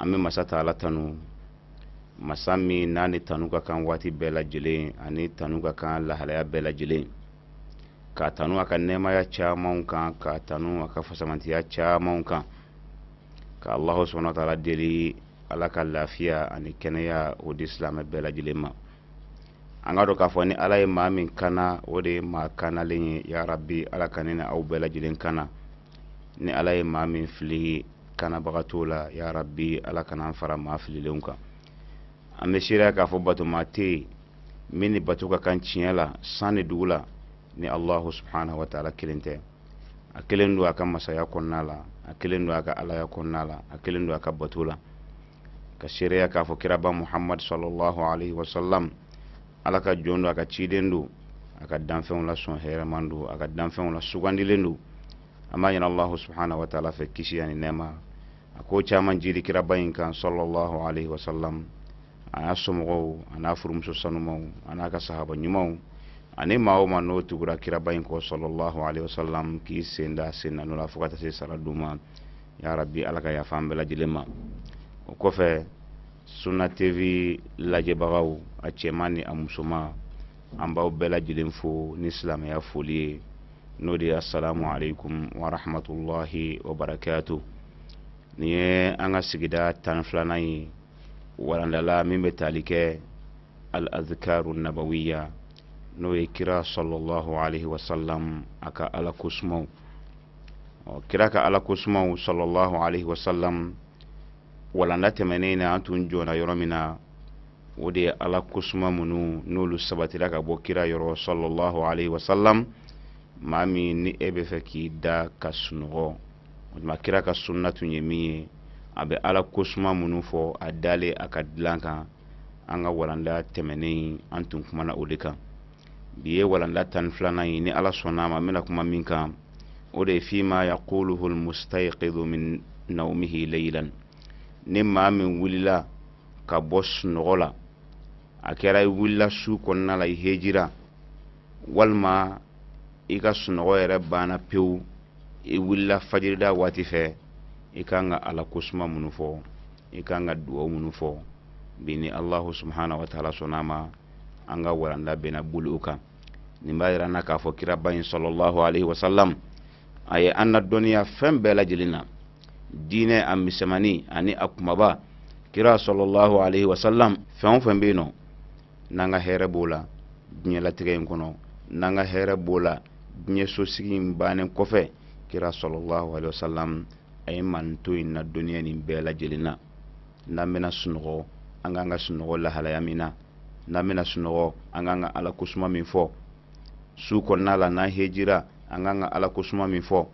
an bɛ masa taala tanu masa min n'a ni tanu ka kan waati bɛɛ lajɛlen a ni tanu ka kan lahalaya bɛɛ lajɛlen ka tanu a ka nɛɛmaya camanw kan ka tanu a ka fisamantiya camanw kan ka alahu subahana taala deli ala ka lafiya ani kɛnɛya o di silamɛ bɛɛ lajɛlen ma an ka dɔn k'a fɔ ni ala ye maa min kanna o de ye maa kannalen ye yarabi ala ka ne ni aw bɛɛ lajɛlen kanna ni ala ye maa min fili kannabaga t'o la ya rabbi ala kana an fara maa fililenw kan an bɛ seereya k'a fɔ batoma tɛ yen min ni bato ka kan tiɲɛ la san ni dugu la ni allahu subhanahu wa taala kelen tɛ a kelen don a ka masaya kɔnɔna la a kelen don a ka alaya kɔnɔna la a kelen don a ka bato la ka seereya k'a fɔ kiraba muhammad sallallahu alaihi wasallam ala ka jɔn don a ka ciden don a ka danfɛnw la sɔn hɛrɛman don a ka danfɛnw la sugandilen don an b'a ɲini allahu subhanahu wa taala fɛ kisi ani nɛɛma a k'o caman jigi kiraba in kan sallallahu alaihi wasallam a n'a somɔgɔw a n'a furumuso sanumaw a n'a ka sahaba ɲumanw ani maa o maa n'o tugura kiraba in kɔ sallallahu alaihi wasallam k'i sen da sen na nɔ la fo ka taa se sara don ma ya rabbi ala ka yafa an bɛɛ lajɛlen ma o kɔfɛ sunna tv lajɛbagaw a cɛman ni a musoman an b'aw bɛɛ lajɛlen fo ni silamɛya foli ye n'o de ye asalamu aleykum wa rahmatulahi wa barakatu nin ye an ka sigida tan ni filanan ye waranda la min bɛ tali kɛ al azkaru nabawiya n'o ye kira sallallahu alayhi wa salam a ka ala kosumaw ɔ kira ka ala kosumaw sallallahu alayhi wa salam walanda tɛmɛnen na an tun jɔra yɔrɔ min na o de ye ala kosuma minnu n'olu sabatira ka bɔ kira yɔrɔ sallallahu alayhi wa salam maa min ni e b'a fɛ k'i da ka sunɔgɔ o tuma kira ka sunna tun ye min ye a bɛ ala kosuma minnu fɔ a dalen a ka dilan kan an ka walanda tɛmɛnen an tun kumana o de kan bi ye walanda tan ni filanan ye ni ala sɔnna a ma n bɛna kuma min kan o de ye fima yaquluhu lmustayiqidu min naumihi leilan ni maa min wulila ka bɔ sunɔgɔ la a kɛra i wulila su kɔnɔna la i hejira walima i ka sunɔgɔ yɛrɛ banna pewu i wulila fajirida waati fɛ i ka kan ka ala kosuma minnu fɔ i ka kan ka dugaw minnu fɔ bi ni alahu subahana wa taala sɔnna ma an ka waranda bɛna boli o kan nin b'a yira an na k'a fɔ kiraba in sallallahu aleyhi wasalam a ye an nadɔnniya fɛn bɛɛ lajɛlen na diinɛ a misɛnmani ani a kumaba kira sɔlɔlahu alaihi wasalam fɛn o fɛn bɛ yen nɔ n'an ka hɛrɛ b'o la diɲɛlatigɛ in kɔnɔ n'an ka hɛrɛ b'o la diɲɛ sosigi in bannen kɔfɛ kira sɔlɔlahu alaihi wasalam a ye mantɔn in nadɔnniya nin bɛɛ lajɛlen na n'an bɛna sunɔgɔ an kan ka sunɔgɔ lahalaya min na n'an bɛna sunɔgɔ an kan ka ala kosuma min fɔ su kɔnɔna la n'an hejira an kan ka ala kosuma min fɔ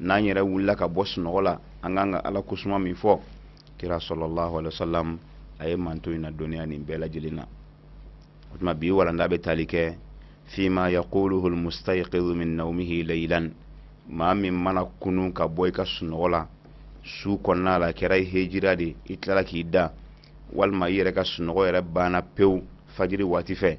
n'an yɛrɛ wulila ka bɔ sunɔgɔ la an kan ka ala kosuma min fɔ kira sɔlɔlahu alayhi wa sallam a ye mantɔn in nadɔnniya nin bɛɛ lajɛlen na o tuma bi walanda bɛ tali kɛ fima yaquluhu almustayqidu min naumihi laylan maa min mana kunun ka bɔ i ka sunɔgɔ la su kɔnɔna la kɛra i hejira de i tilala k'i da walima i yɛrɛ ka sunɔgɔ yɛrɛ banna pewu fajiri waati fɛ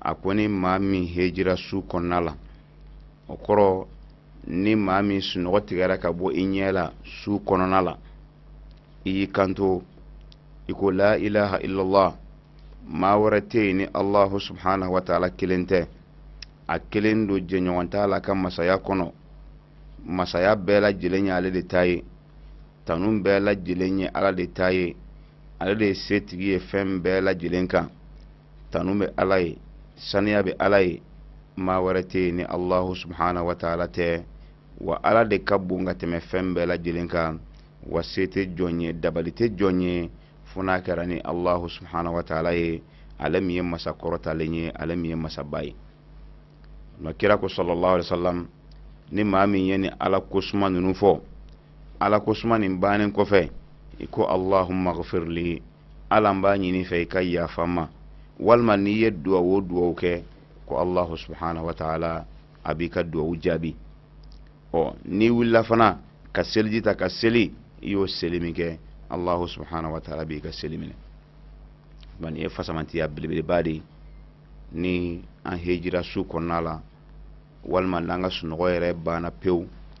a ko ni maa min hejira su kɔnɔna la o kɔrɔ ni maa min sunɔgɔ tigɛra ka bɔ i ɲɛ la su kɔnɔna la i y'i kanto i ko la ilaha illallah maa wɛrɛ tɛ yen ni allahu subhanahu wa taala kelen tɛ a kelen don jɛɲɔgɔn t'a la ka masaya kɔnɔ masaya bɛɛ lajɛlen ye ale de ta ye tanu bɛɛ lajɛlen ye ala de ta ye ale de ye setigi ye fɛn bɛɛ lajɛlen kan tanu bɛ ala ye saniya bɛ ala ye maa wɛrɛ tɛ yen ni allahu subhanahu wa taala tɛ wa ala de ka bon ka tɛmɛ fɛn bɛɛ lajɛlen kan wa se tɛ jɔn ye dabali tɛ jɔn ye fo n'a kɛra ni allahu subhanahu wa taala ye ale min ye masa kɔrɔtalen ye ale min ye masaba ye nka kira ko sɔlɔlahu alayhi wa sallam ni maa min ye nin ala kosuma ninnu fɔ ala kosuma nin bannen kɔfɛ i ko allahumma ghfirli ala n b'a ɲin'i fɛ i ka yafa n ma walima n'i ye duwawu o duwawu kɛ ko allahu subhanahu wa taala a b'i ka duwawu jaabi ɔ n'i wulila fana ka seliji ta ka seli i y'o seli min kɛ allahu subhanahu wa taala b'i ka seli minɛ nin ye fisamantiya belebeleba de ye ni an hejira su kɔnɔna la walima n'an ka sunɔgɔ yɛrɛ banna pewu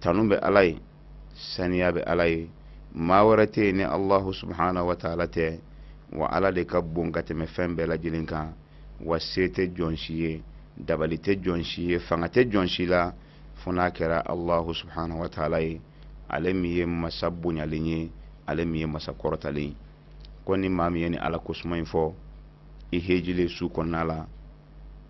tanu bɛ ala ye saniya bɛ ala ye maa wɛrɛ tɛ yen ni allahu subhanahu wa taala tɛ wa ala de ka bon ka tɛmɛ fɛn bɛɛ lajɛlen kan wa se tɛ jɔn si ye dabali tɛ jɔn si ye fanga tɛ jɔn si la fo n'a kɛra allahu subhanahu wa taala ye ale min ye masa bonyalen ye ale min ye masa kɔrɔtalen ye ko ni maa min ye nin ala kosuma in fɔ i hejilen su kɔnɔna la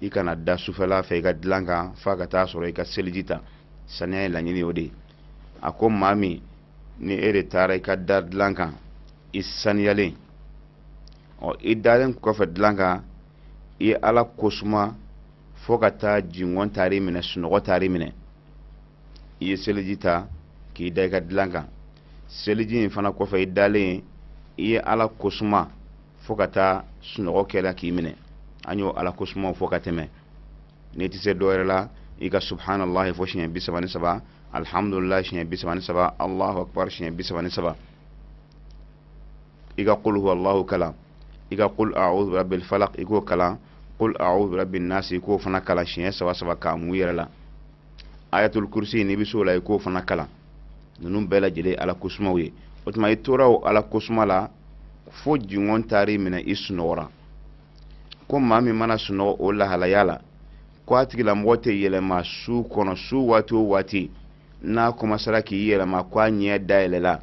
i kana da sufɛla fɛ i ka dilan kan f'a ka taa sɔrɔ i ka seliji ta saniya ye laɲini o de ye a ko maa min ni e de taara i ka da dilan kan i saniyalen ɔ i dalen kɔfɛ dilan kan i ye ala kosuma fo ka taa jingɔn taar'i minɛ sunɔgɔ taar'i minɛ i ye seliji ta k'i da i ka dilan kan seliji in fana kɔfɛ i dalen i ye ala kosuma fo ka taa sunɔgɔ kɛra k'i minɛ an y'o ala kosumaw fɔ ka tɛmɛ n'i tɛ se dɔwɛrɛ la i ka subhanallahi fɔ siɲɛ bi saba ni saba alhamdulilahi siɲɛ bi saba ni saba allahu akbar siɲɛ bi saba ni saba i ka qul huwallahu kalan i ka qul a'udhu birabbil falaq i k'o kalan qul a'udhu birabbin nas i k'o fana kalan siɲɛ saba saba k'a mun i yɛrɛ la ayatul kursi n'i bɛ s'o la i k'o fana kalan ninnu bɛɛ lajɛlen ye ala kosumaw ye o tuma i tora o ala kosuma la fo jingɔn taar'i minɛ i sunɔgɔra ko maa min mana sunɔgɔ o lahalaya la ko a tigilamɔgɔ tɛ yɛlɛma su kɔnɔ su waati o waati n'a kɔmasara k'i yɛlɛma ko a ɲɛ dayɛlɛla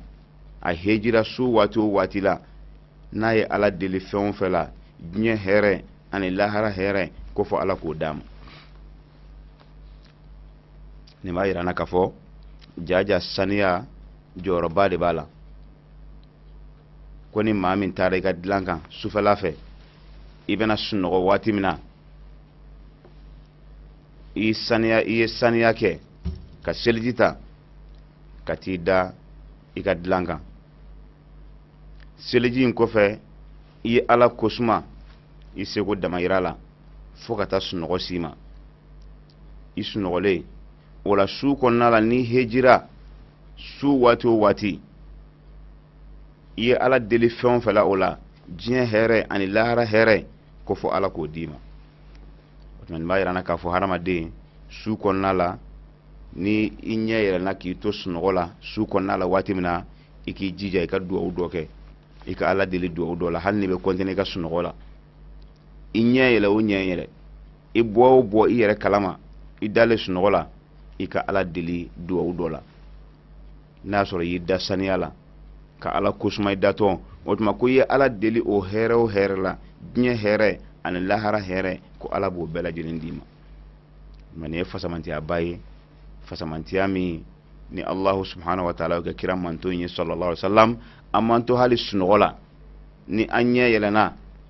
a hejira su waati o waati la n'a ye ala deli fɛn o fɛn la diɲɛ hɛrɛ ani lahara hɛrɛ ko fo ala k'o d'a ma nin b'a yir'an na k'a fɔ jaja saniya jɔyɔrɔba de b'a la ko ni maa min taara i ka dilan kan sufɛla fɛ i bɛna sunɔgɔ waati min na i saniya i ye saniya kɛ ka seliji ta ka t'i da i ka dilan kan seliji in kɔfɛ i ye ala kosuma i seko damayira la fo ka taa sunɔgɔ s'i ma i sunɔgɔlen o la su kɔnɔna la n'i hejira su waati o waati i ye ala deli fɛn o fɛn la o la diɲɛ hɛrɛ ani lahara hɛrɛ ko fo ala k'o d'i ma o tuma nin b'a yir'an na k'a fɔ hadamaden su kɔnɔna la ni i ɲɛ yɛlɛna k'i to sunɔgɔ la su kɔnɔna la waati min na i k'i jija i ka duwawu dɔ kɛ i ka ala deli duwawu dɔ la hali n'i bɛ kɔntine i ka sunɔgɔ la i ɲɛ yɛlɛ o ɲɛ yɛlɛ i bɔ o bɔ i yɛrɛ kalama i dalen sunɔgɔ la i ka ala deli duwawu dɔ la n'a y'a sɔrɔ i y'i da saniya la ka ala kosuma i datɔ o tuma ko i ye ala deli o hɛrɛ o hɛrɛ la diɲɛ hɛrɛ ani lahara hɛrɛ ko ala b'o bɛɛ lajɛlen d'i ma mɛ nin ye fisamantiyaba ye fisamantiya min ni allahu subhanahu wa taala kɛ kira mantɔn ye sallallahu alaihi wasallam an mantɔn hali sunɔgɔ la ni an ɲɛ yɛlɛna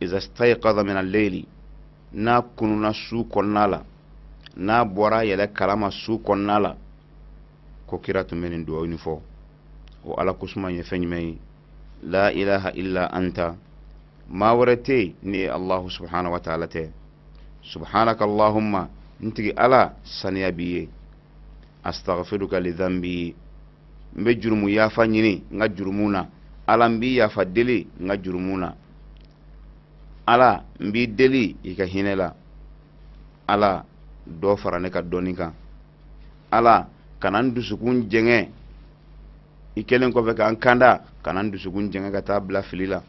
iza stayqadha min al-layli n'a kununa su kɔnɔna la n'a bɔra yɛrɛ kalama su kɔnɔna la ko kira tun bɛ nin dugawu nin fɔ o ala kosuma ye fɛn jumɛn ye la ilaha illa anta maa wɛrɛ tɛ yen ni e allahu subhanahu wa ta'ala tɛ subhanaka allahumma n tigi ala saniya b'i ye astaghfiruka li dhanbi n bɛ jurumu yafa ɲini n ka jurumu na ala n b'i yafa deli n ka jurumu na ala n b'i deli i ka hinɛ la ala dɔ fara ne ka dɔnni kan ala kana n dusukun jɛngɛ i kɛlen kɔfɛ ka n kanda kana n dusukun jɛngɛ ka taa bila fili la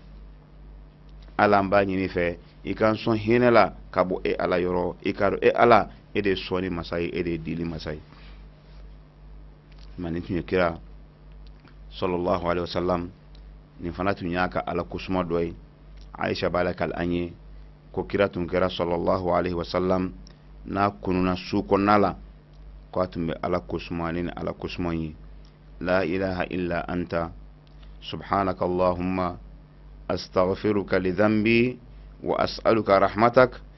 ala n b'a ɲini fɛ i ka n sɔn hinɛ la ka bɔ e ala yɔrɔ i k'a dɔn e ala e de ye sɔnni masa ye e de ye dili masa ye ma nin tun ye kira sallallahu alaihi wasallam nin fana tun y'a ka ala kosuma dɔ ye aisha b'a lakali an ye ko kira tun kɛra sallallahu alaihi wasallam n'a kununa su kɔnɔna la ko a tun bɛ ala kosuma ni ala kosuma ye la ilaha illa anta subhanaka allahumma astaghfiruka li dhanbi wa as'aluka rahmatak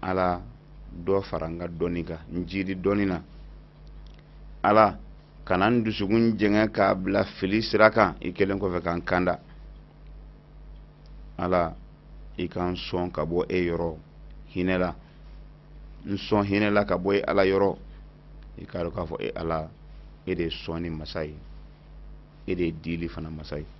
ala dɔ fara n ka dɔnni kan n jiidi dɔnni na ala kana n dusukun jɛngɛ k'a bila fili sira kan i kɛlen kɔfɛ ka n kanda ala i ka n sɔn ka bɔ e yɔrɔ hinɛ la n sɔn hinɛ la ka bɔ e ala yɔrɔ i k'a dɔn k'a fɔ e ala e de ye sɔnni masa ye e de ye dili fana masa ye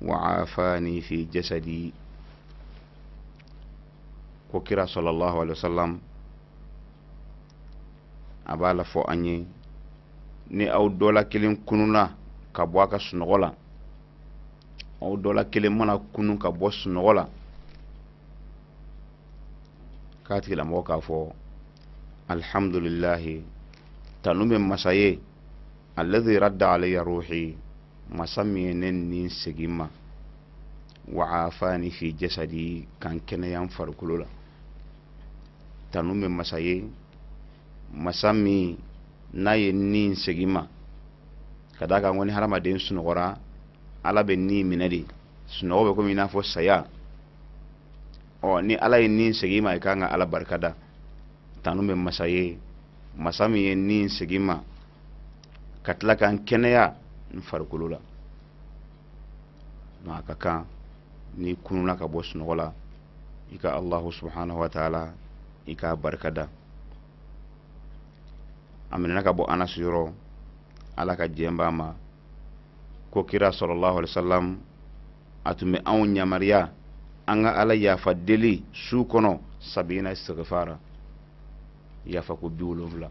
wa aafani fi jasadi ko kira sallallahu alaihi wasallam a b'a la fɔ an ye ni aw dɔ la kelen kununa ka bɔ a ka sunɔgɔ la aw dɔ la kelen mana kunun ka bɔ sunɔgɔ la k'a tigilamɔgɔ k'a fɔ alhamdulillahi tanu bɛ masa ye alladhi radda alayya ruhi masa min ye ne ni segin n ma wa aafani fi jasadi ka n kɛnɛya n farikolo la tanu bɛ masa ye masa min n'a ye ni segin ma ka d'a kan ko ni hadamaden sunɔgɔra ala bɛ ni minɛ de sunɔgɔ bɛ komi i n'a fɔ saya ɔ ni ala ye ni segin ma i kan ka ala barikada tanu bɛ masa ye masa min ye ni segin ma ka tila ka n kɛnɛya n farikolo la a ka kan n'i kununa ka bɔ sunɔgɔ la i ka alahu subhanahu wa taala i k'a barika da a minɛna ka bɔ anasi yɔrɔ ala ka jɛn b'a ma ko kira sallallahu alaihi wasallam a tun bɛ anw yamariya an ka ala yafa deli su kɔnɔ sabina istigifara yafa ko bi wolonwula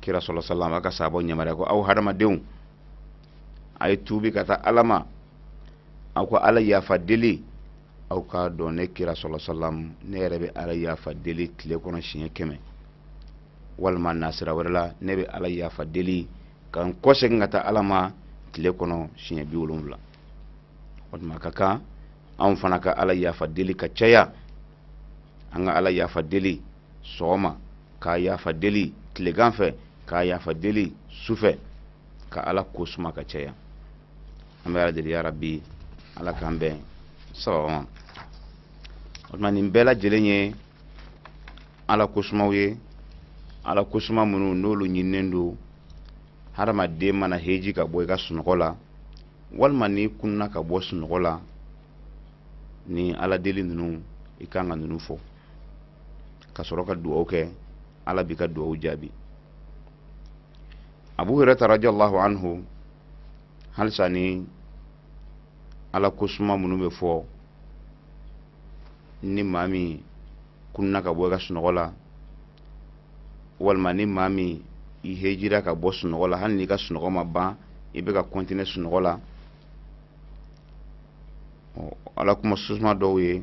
kira sallallahu alaihi wasallam a ka sahabaw yamaruya ko aw hadamadenw a ye tuubi ka taa ala ma aw ka ala yafa deli aw k'a dɔn ne kira sallallahu alaihi wasallam ne yɛrɛ bɛ ala yafa deli tile kɔnɔ siɲɛ kɛmɛ walima nasira wɛrɛ la ne bɛ ala yafa deli ka n kɔsegin ka taa ala ma tile kɔnɔ siɲɛ bi wolonwula o tuma ka kan anw fana ka ala yafa deli ka caya an ka ala yafa deli sɔgɔma k'a yafa deli tilegan fɛ k'a yafa deli su fɛ ka ala ko suma ka caya an bɛ ala deli ya rabi ala k'an bɛn sawaba ma o tuma nin bɛɛ lajɛlen ye ala ko sumaw ye ala ko suma minnu n'olu ɲininnen don hadamaden mana heji ka bɔ i ka sunɔgɔ la walima n'i kunna ka bɔ sunɔgɔ la ni ala deli ninnu i kan ka ninnu fɔ ka sɔrɔ ka dugawu kɛ ala b'i ka dugawu jaabi abu hurairata radiallahu anhu halisa ni ala ko suma minnu bɛ fɔ ni maa min kunna ka bɔ i ka sunɔgɔ la walima ni maa min i hejira ka bɔ sunɔgɔ la hali n'i ka sunɔgɔ ma ban i bɛ ka kɔntine sunɔgɔ la ala kuma susuma dɔw ye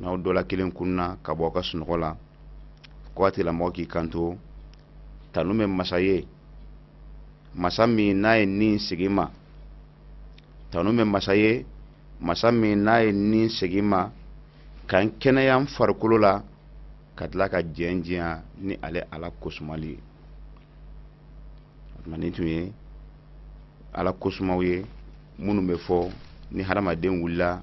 n'aw dɔ la kelen kunna ka bɔ a ka sunɔgɔ la ko a tigilamɔgɔ k'i kanto tanu bɛ masa ye masa min n'a ye n ni segin n ma tanu bɛ masa ye masa min n'a ye n ni segin n ma ka n kɛnɛya n farikolo la ka tila ka jɛn jɛya ni ale ala kosumali ye o tuma nin tun ye ala kosumaw ye minnu bɛ fɔ ni hadamaden wulila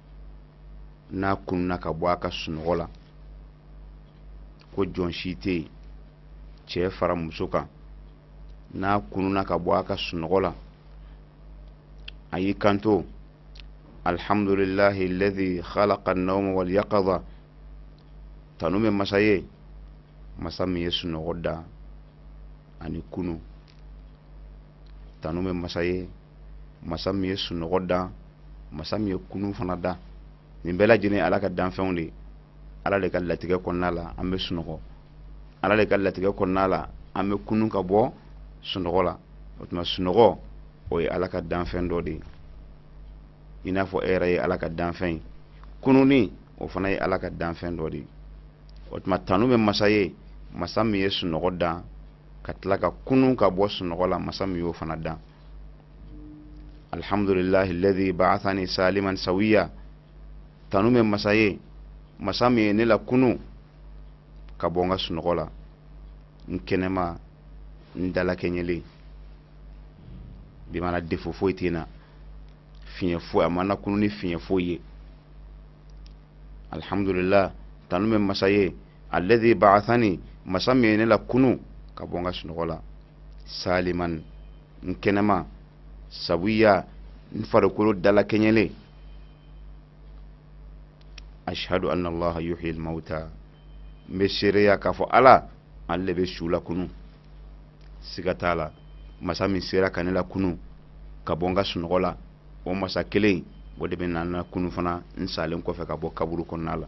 n'a kununa ka bɔ a ka sunɔgɔ la ko jɔn si tɛ yen cɛ fara muso kan n'a kununa ka bɔ a ka sunɔgɔ la a y'i kanto alhamdulilahi alladhi khalaqa annawma wal yaqadha tanu bɛ masa ye masa min ye sunɔgɔ da ani kunu tanu bɛ masa ye masa min ye sunɔgɔ dan masa min ye kunun fana dan nin bɛɛ lajɛlen ala ka danfɛnw de ala de ka latigɛ kɔnɔna la an bɛ sunɔgɔ ala de ka latigɛ kɔnɔna la an bɛ kunun ka bɔ sunɔgɔ la o tuma sunɔgɔ o ye ala ka danfɛn dɔ de ye i n'a fɔ e yɛrɛ ye ala ka danfɛn ye kununni o fana ye ala ka danfɛn dɔ de ye o tuma tanu bɛ masa ye masa min ye sunɔgɔ dan ka tila ka kunun ka bɔ sunɔgɔ la masa min y'o fana dan alhamdulilahi alladhi ba'athani saliman sawiya tanu bɛ masa ye masa min ye ne la kunun ka bɔ n ka sunɔgɔ la n kɛnɛma n dalakɛɲɛlen bima'na défaut foyi tɛ n na fiɲɛ foyi a ma n na kunun ni fiɲɛ foyi ye alhamdulilah tanu bɛ masa ye alladhi ba'athani masa min ye ne la kunun ka bɔ n ka sunɔgɔ la saliman n kɛnɛma sawiya n farikolo dalakɛɲɛlen ashhadu anna allaha yuhyi almauta n bɛ seereya k'a fɔ ala ale de bɛ su la kunun siga t'a la masa min sera ka ne la kunun ka bɔ n ka sunɔgɔ la o masa kelen o de bɛ na n la kunun fana n salen kɔfɛ ka bɔ kaburu kɔnɔna la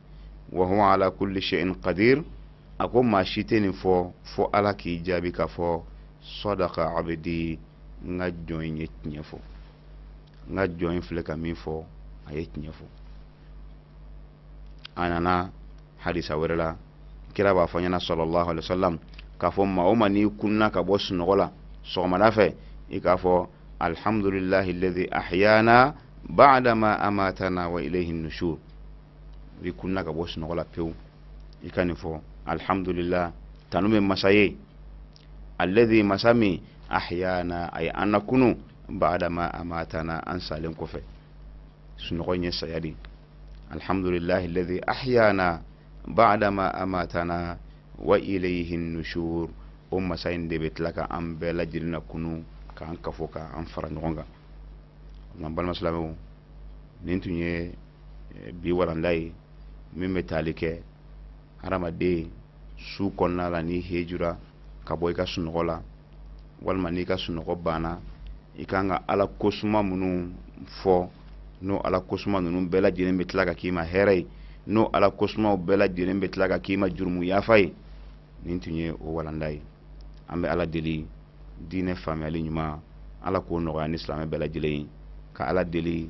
wa huwa ala kulli shay'in qadir a ko maa si tɛ nin fɔ fo ala k'i jaabi k'a fɔ sadaqa abdi n ka jɔn in ye tiɲɛ fɔ n ka jɔn in filɛ ka min fɔ a ye tiɲɛ fɔ a nana hadisa wɛrɛ la kira b'a fɔ ɲɛna sallallahu alayhi wa sallam k'a fɔ maa o maa n'i kunna ka bɔ sunɔgɔ la sɔgɔmada fɛ i k'a fɔ alhamdulilahi alladhi ahyana ba'da ma amatana wa ilayhi nushur i kunna ka bɔ sunɔgɔ la pewu i ka nin fɔ alhamdulilah tanu bɛ masa ye alladhi masa min ahyana a ye an na kunun ba'da ma amatana an salen kɔfɛ sunɔgɔ in ye saya de alhamdulilahi alladhi ahyana ba'da ma amatana wa ilayhi nushur o masa in de bɛ tila ka an bɛɛ lajɛlen na kunun k'an kafo k'an fara ɲɔgɔn kan nka balima silamɛw nin tun ye eh, bi walanda ye min bɛ taali kɛ hadamaden su kɔnɔna la n'i hejura ka bɔ i ka sunɔgɔ la walima n'i ka sunɔgɔ banna i kan ka ala kosuma minnu fɔ n'o ala kosuma ninnu bɛɛ lajɛlen bɛ tila ka k'i ma hɛrɛ ye n'o ala kosumaw bɛɛ lajɛlen bɛ tila ka k'i ma jurumu yafa ye nin tun ye o walanda ye an bɛ ala deli diinɛ faamuyali ɲuman ala k'o nɔgɔya an ni silamɛ bɛɛ lajɛlen ye ka ala deli